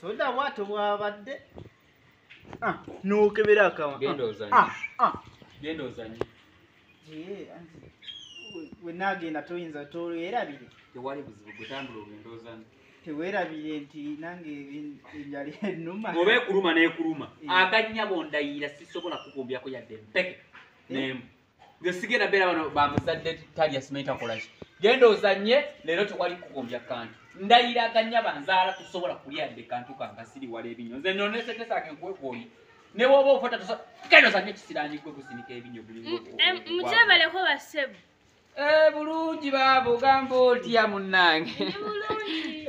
soda bwato bwabadde Ah, nokebera akama Genda ozanye. Ah, ah. genda ozanye Yee, anti we- wenaagenda toyinza towerabire tewali buzibu gutambula ogenda ozanye tewerabire nti nange en- enjala enuma oba ekuluma nekuluma Eh. akanyabo ndayira sisobola kukumbyaku yadde empeke nemu nze sigenda beera bano bamuzadde talya simanyi takolaki genda ozanye leero tewali kukumbya kantu ndayiraganya banzaala tusobola kulya dde kantu kanga siriwala ebinyo nze nonesetesage nkwekoyi ne woba ofata genda ozanye ekisiranyi gwe kusinika ebinyo mujabaleko basebu eh, bulungi baaba ogamba otya munnange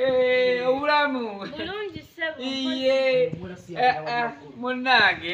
eh, obulamu iye eh, munnange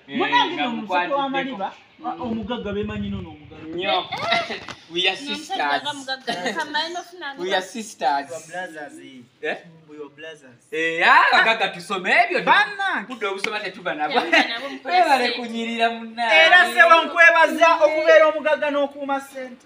Eh, munange no omusajja wa maliba mm. omugagga bemanyi nono omugagga abagagga tusoma ebyo kudda obusoma tetuba nabwebale kunyirira munaera sewankwebaza okubeera omugagga n'okuuma sente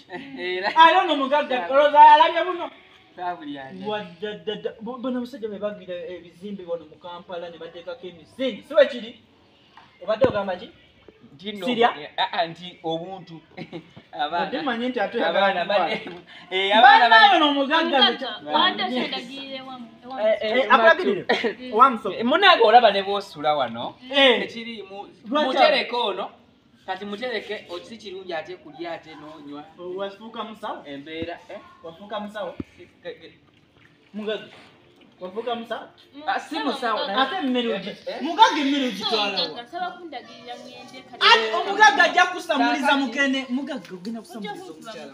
alona omugagga olowooza alabye buno bano abasajja be bagira ebizimbe bano mu kampala ne bateekako emisingi si wekiri obadde ogamba ki sirya ah, ah, nti obuntu abaanamanyi nti ate abaana banayono omugagga munange olaba ne bwosula wano ekirimu mutereka ono kati mutereke okisi kirungi ate kulya ate nonywa wafuuka musawo embeera eh? wafuuka musawo mugaga wafuuka musawo ah, si musawo ate emmere ogi eh, eh? mugaga emmere ogitwalaomugaga ajja kusamuliza mukene mugaga ogenda kusamuliza omukyala